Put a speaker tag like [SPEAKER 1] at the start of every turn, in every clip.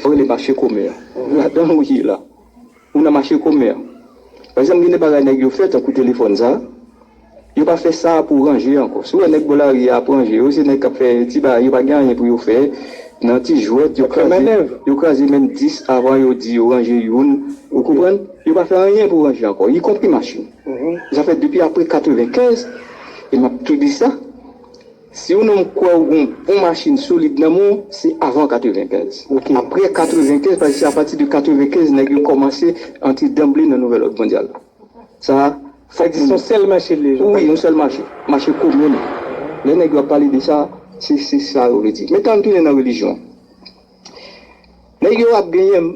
[SPEAKER 1] Vrele mache komè a. Ladan ou ye la. Ou nan mache komè a. Pa egzanp gen de bagay nèg yo fè tankou telefòn sa. Yo pa fè sa pou ranje ankò. Si ou wè nèg bò lari a ap ranje yo, se nèg k ap fè ti bagay yo pa gen anyen pou yo fè nan ti jwèt yo kraze yo kraze menm 10 avan yo di yo ranje youn ou konprann. Yo pa fè anyen pou ranje ankò ikonpri machin. Sa fè depi apre 95 e m ap tou di sa Si yon nonm kwè ou gen yon bon machin solid nan men w, se avan 95. Apre 95, paske se apati de 95 nèg yo kòmanse antre danble nan nouvèl òd mondyal la. Sa fè di son
[SPEAKER 2] sèl mache li ye. Wi, yon sèl mache.
[SPEAKER 1] Mache komin. Lè nèg yo ap pale de sa, se sa yo vle di. Metan an tounen nan relijyon. Nèg yo ap genyen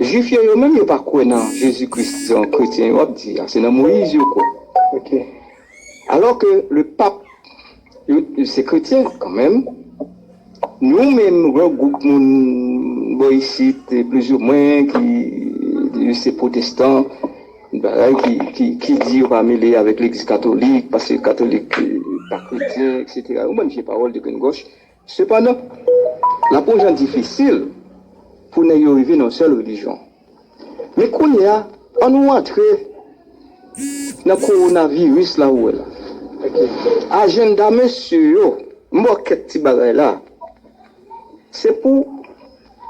[SPEAKER 1] Jwif yo yo menm yo pa kwè nan Jezi Kris jan kretyen yo ap di a, se nan Moyiz yo kwè. Ok. Alò ke le pap yo se kretyen kan menm. Nou menm yon gwoup moun bò isit plizoumwen ki yo se pwotestan, bagay ki di yo pa mele avèk legliz katolik paske katolik pa kretyen eksetera. Yon bann vye pawòl de grenn gòch. Sepandan, l ap yon jan difisil pou nèg yo rive nan yon sèl relijyon. Men kounye a, an nou antre nan kowonaviris la ou wè la. Ajenda mesye yo, m ba w kèk ti bagay la, se pou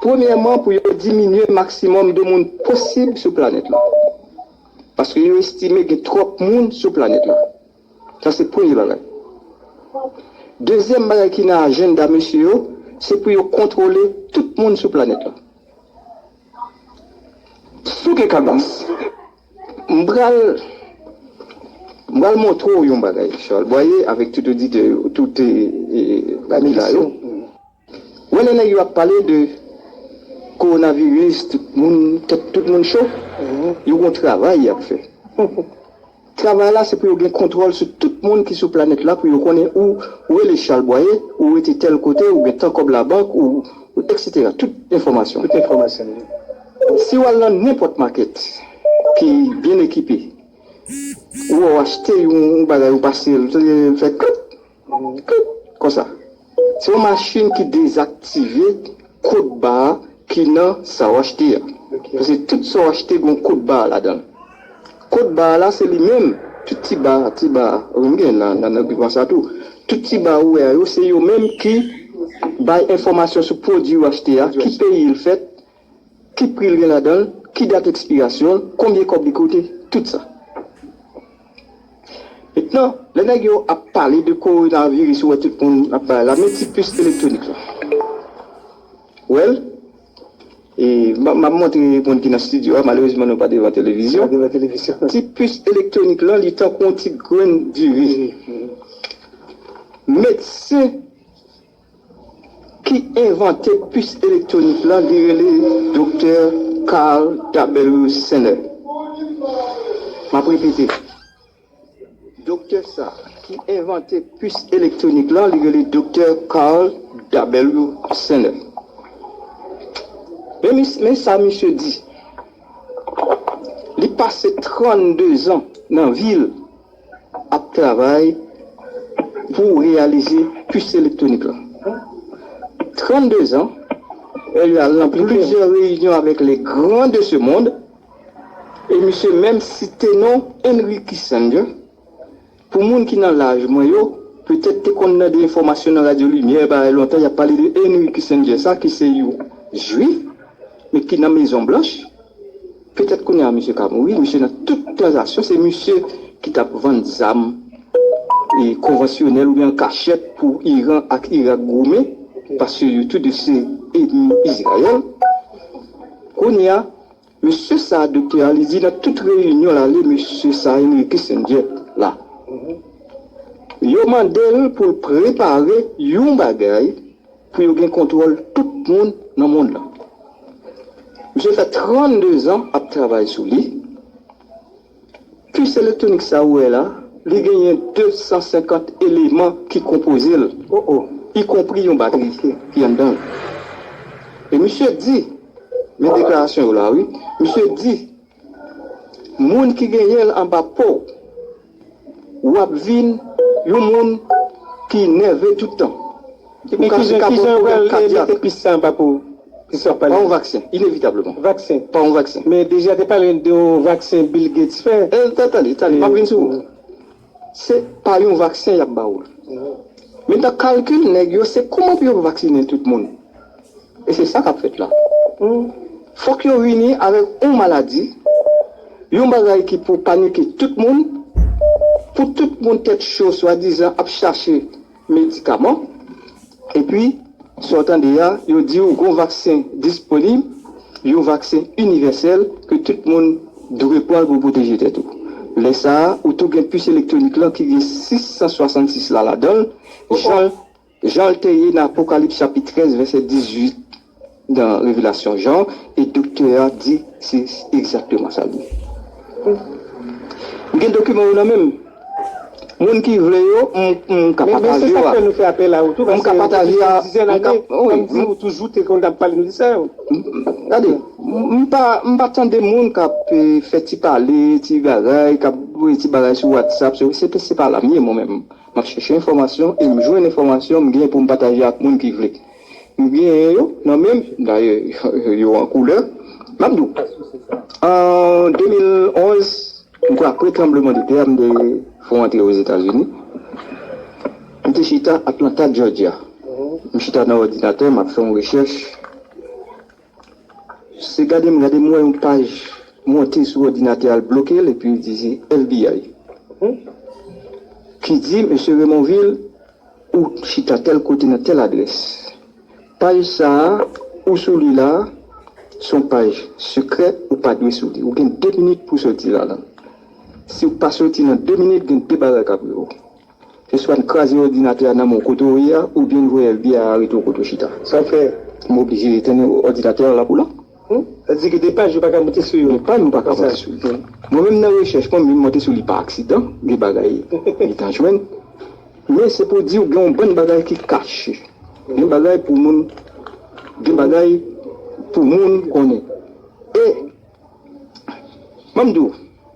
[SPEAKER 1] premyèman pou yo diminye maksimòm de moun posib sou planèt la. Paske yo estime gen twòp moun sou planèt la. Sa se premye bagay. Dezyèm bagay ki nan ajenda mesye yo, se pou yo kontwole tout moun sou planèt la. Sou gen kabas, m pral, m pral montre w yon bagay, Charles Boyer, avèk tout oditè yo, tout, ami la yo. Wè lè nèg yo ap pale de Corona virus tout moun tèt tout moun cho yo gon travay yap fè travay la se pou yo gen kontwòl sou tout moun ki sou planèt la pou yo konnen ou rele Charles Boyer ou rete tèl kote ou gen tan kòb labank ou etc tout enfòmasyon
[SPEAKER 2] si
[SPEAKER 1] wal nan nenpòt makèt ki byen ekipe ou wè ou achte yon bagay ou pase l fè klik. Klik konsa sou yon machin ki dezaktive kod ba a ki nan sa w achte a. Paske tout sa w achte gen yon kod ba ladan l. Kod ba la se li menm, tout ti ba, ti ba, wi m gen nan nan dokiman sa tou. Tout ti ba ou wè yo se yo menm ki bay enfòmasyon sou pwodui w achte a, ki peyi l fèt, Ki pri l gen ladan l, ki dat ekspirasyon l, konbyen kòb li koute, tout sa. Mentnan, lè nèg yo ap pale de kowonaviris ou wè tout moun ap pale la, men ti pis elektwonik la. Ou wè l? E, m ap montre moun ki nan stidyo a, malerezman nou pa devan televizyon. Ti pis elektwonik lan li tankou yon ti grenn diri. Medsen. Ki envante pis elektwonik lan li rele Doktè Carl W. Saner. M ap repete, Doktè sa ki envante pis elektwonik lan li rele Doktè Carl W. Saner. Men sa misye di, Li pase 32 zan nan vi l. ap travay pou reyalize pis elektwonik lan. 32 zan, li al nan plizyè reyinyon avèk les grands de ce monde e misye menm site non Henry Kissinger. Pou moun ki nan laj mwen yo, petèt te konn tande enfòmasyon nan radyo limyè bagay lontan y ap pale de Henry Kissinger sa ki se yon jwif men ki nan mezon blanch. Petèt kounya misye ka mouri, misye nan tout tranzaksyon se misye ki tap vann zam konvansyonèl oubyen an kachèt pou Iran ak Irak goumen paske yo tou 2 se enmi Izrayèl. Kounya mesye sa doktè a li di nan tout reyinyon l ale mesye sa Henry Kissinger la yo mande l pou l prepare yon bagay, Pou yo gen kontwòl tout moun nan mond lan. Misye fè 32 zan ap travay sou li. Pis elektwonik sa ou wè la, li genyen 250 eleman ki konpoze l, o o, ikonpri yon batri ki anndan l. E misye di, men deklarasyon yo la wi, misye di. Moun ki genyen l anba po w. Ou ap vin yon moun ki nève tout tan. Ou ka
[SPEAKER 2] sou ka pran pwoblèm
[SPEAKER 1] kadyak. Pa yon vaksen, inevitableman. Pa
[SPEAKER 2] yon vaksen. Tande, tande, m ap
[SPEAKER 1] vin sou ou. Se pa yon vaksen yap ba ou. Men nan kalkil nèg yo se kouman pou yo vaksinen tout moun. E se sa kap fèt la. Fòk yo vini avèk yon maladi, yon bagay ki pou panike tout moun, pou tout moun tèt cho swadizan ap chache. medikaman epi sa w tande a yo di w gon vaksen disponib yon vaksen inivèsèl ke tout moun dwe pran l pou w pwoteje tèt ou lè sa ou tou gen pis elektwonik lan ki gen 666 la ladan l jan l jan l te ye nan Apokalips chapit 13 vèsè 18. Nan revelasyon Jan, e doktè a di se egzakteman sa l ye. M gen dokiman yo nan men m. Moun ki vle yo, m ka
[SPEAKER 2] pataje yo ak yo. M ka pataje a. Gade,
[SPEAKER 1] m pa tande moun k ap fè ti pale, ti bagay, k ap voye ti bagay sou Whatsapp. Se pa la m ye mwen menm. M ap chèche enfòmasyon e m jwenn enfòmasyon m gen pou m pataje ak moun ki vle. M genyen yo nan menm, dayè yo an koulè. M ap di w, an 2011, m kwè apre tranbleman de tè a, m te fon antre Ozetazini. M te chita Atlanta, Jòjya. M chita nan òdinatè, m ap fè yon rechèch. Se gade m gade, m wè yon paj monte sou òdinatè a, l bloke l epi l di se FBI ki di, Mesye Remonvil, Ou chita tèl kote nan tèl adrès. Paj sa a ou sou li la a, se yon paj sekrè ou pa dwe sou li. Ou gen 2 minit pou w soti ladan l. Si w pa soti nan 2 minit, gen 2 bagay k ap rive w. Se swa n kraze òdinatè a nan men w kote w ye a oubyen n voye FBI arete w kote w chita. Sa fè
[SPEAKER 2] m oblije etenn
[SPEAKER 1] òdinatè a la pou la. Hum sa di ke de
[SPEAKER 2] paj yo paka monte sou yo kisa sou yo
[SPEAKER 1] mwen menm nan rechèch mwen m vin monte sou li pa aksidan de bagay li ta jwenn men se pou diw gen yon bann bagay ki kache gen bagay pou moun gen bagay pou moun konnen e map diw.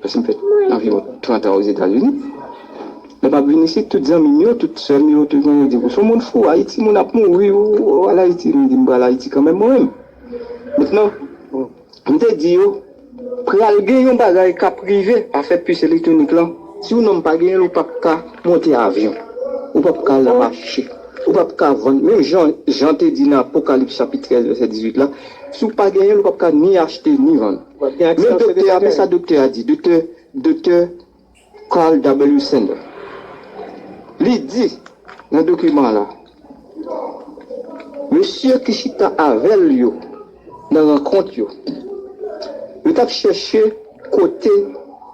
[SPEAKER 1] Pase m fè anviwon trantan Ozetazini. Lè m ap vin isit, tout zanmi m yo, tout sè m yo, tout moun yo di m, ou s on moun fou, Ayiti moun ap mouri, ou al Ayiti. M di, m pral Ayiti kanmenm mwen menm. Mentnan, m te di yo, pral gen yon bagay k ap rive afè pis elektwonik lan. Si yon nonm pa genyen l, ou p ap ka monte avyon, ou p ap ka al nan mache, ou p ap ka vann. Menm jan Jan te di nan Apokalips chapit 13 vèsè 18 la, si w pa genyen l, ou p ap ka ni achte ni vann. Men doktè a, men sa doktè a di, doktè, doktè Carl W. Sanders. Li di nan dokiman an la, Mesye ki chita avè l yo nan rankont yo, yo t ap chèche kote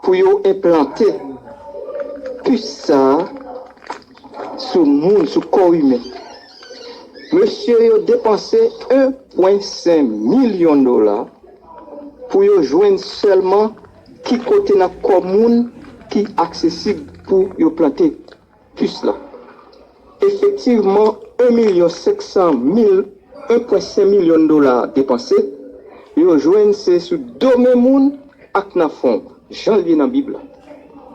[SPEAKER 1] pou yo enplante pis sa a sou moun, sou kò imen. Mesye yo depanse 1,5 milyon dola. Pou yo jwenn sèlman ki kote nan kò moun ki aksesib pou yo plante pus la. Efektivman, 1 milyon 500 mil, 1,5 milyon dola depanse, yo jwenn se sou do men moun ak nan fon, jan l ye nan Bib la.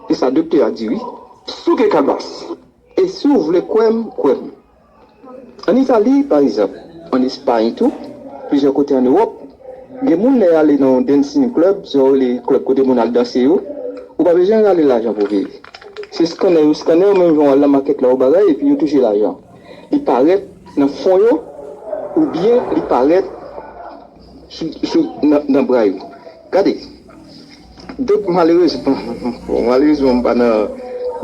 [SPEAKER 1] Se sa doktè a di wi. Si w gen kalbas, e si w vle kwè m, kwè m. Ann Itali, pa egzanp, ann Espayn tou, plizyè kote ann Ewòp, gen moun lè y ale nan yon dancing club, sa yo rele club kote moun al danse yo, ou pa bezwen rale lajan pou viv. Se skanè yo skanè w menm jan w al nan makèt la ou bagay epi yo touche lajan. Li parèt nan fon yo oubyen li parèt sou nan bra yo. Gade! Donk malerezman, malerezman m pa nan,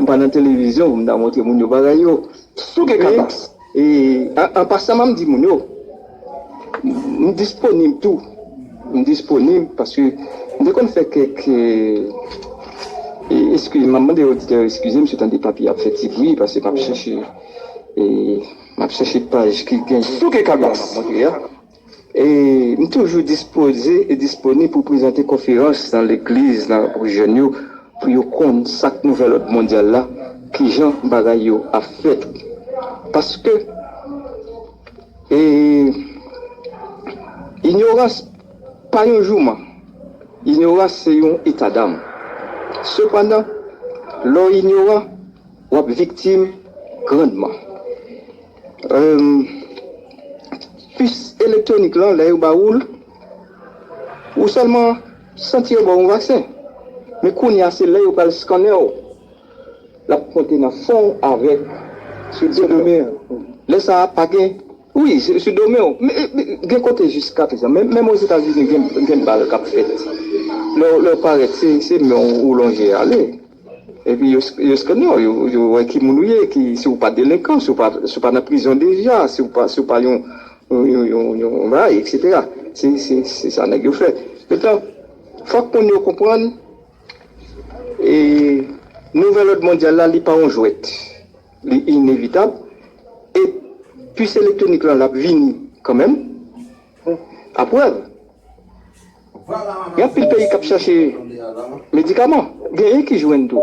[SPEAKER 1] m pa nan televizyon pou m ta montre moun yo bagay yo. Si w gen kanpas. An pasan map di moun yo, m disponib tou, m disponib paske m te konn fè kèk, eskize m map mande oditè yo eskize m si w tande papye ap fè ti bri paske map chèche, map chèche paj ki gen. Si w gen kanpas. M toujou dispoze e disponib pou prezante konferans nan legliz nan pou jèn yo, pou yo konn sa k nouvèl òd mondyal la, kijan bagay yo ap fèt. Paske inyorans pa yon jouman, inyorans se yon etadam. Sepandan, lè w inyoran, w ap viktim grandman. Pis elektwonik lan lè yo ba ou l, ou sèlman santi yo ba w yon vaksen. Men kounye a se lè yo pral skannen w, l ap monte nan fon w avèk sou do men w. Lè sa a pa gen, wi, sou do men w. Gen kote jiskaprezan, menm Ozetazini gen bal k ap fèt. Lè w parèt se men w ou lonje ale. Epi yo skanne w, yo wè ki moun ou ye, si w pa delenkan, si w pa nan prizon deja, si w pa yon bagay, eksetera. Se sa nèg yo fè. Metan, fòk moun yo konprann, nouvèl òd mondyal la, li pa yon jwèt. Li inevitab. E pis elektwonik lan, l ap vini kanmenm. Aprèv. Gen anpil peyi k ap chache medikaman, genyen ki jwenn tou.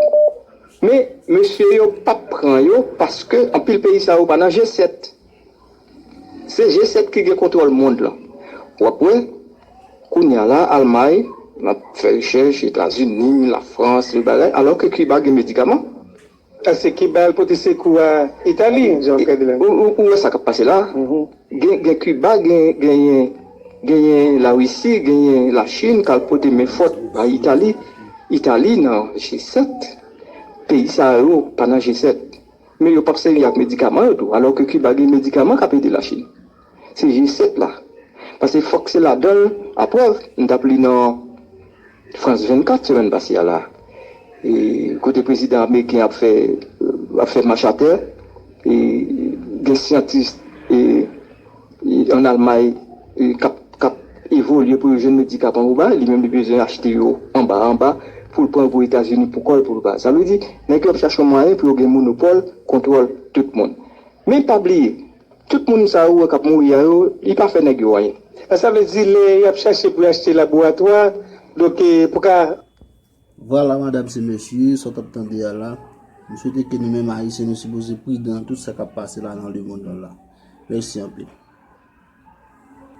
[SPEAKER 1] Men, mesye yo p ap pran yo paske anpil peyi sa yo pa nan G-7. Se G-7 ki gen kontwòl mond lan. W ap wè, kounye a la, Almay ap fè rechèch, Etazini, Lafrans, lòt bagay, alò ke Kiba gen medikaman. Ese
[SPEAKER 2] Kiba al pote sekou a Itali jan w kadi la. Ou wè sa kap pase
[SPEAKER 1] la, gen Kiba genyen la Risi genyen la Chin kal pote men fòt bay Itali, Itali nan G7 peyi sa yo pa nan G7 men yo pap sèvi ak medikaman yo tou alò ke Kiba gen medikaman kap ede la Chin. Se vye 7 la. Pase fòk se ladan l, a prèv, m t ap li nan France 24 semèn pase a la, kote prezidan ameriken ap fè ap fè mach a tè, gen syantis an Almay k ap k ap evolye pou yo jwenn medikaman pou bay, li menm li bezwen achte yo anba anba pou l pran yo pou Etazini pou kò l pou l bay. Sa vle di nèg yo ap chache yon mwayen pou yo gen monopòl kontwòl tout moun. Men pa bliye. Tout moun sa ou wè kap mouri a yo li pa fè nèg yo anyen. Eske sa vle di lè
[SPEAKER 2] yap chache pou yo achte laboratwa donk pou ka. Vwala
[SPEAKER 3] madam se mesye sa w tap tande a la. M swete ke nou menm ayisyen nou sipoze pridan nan tout sa kap pase la nan lemond lan la. Mèsi anpil.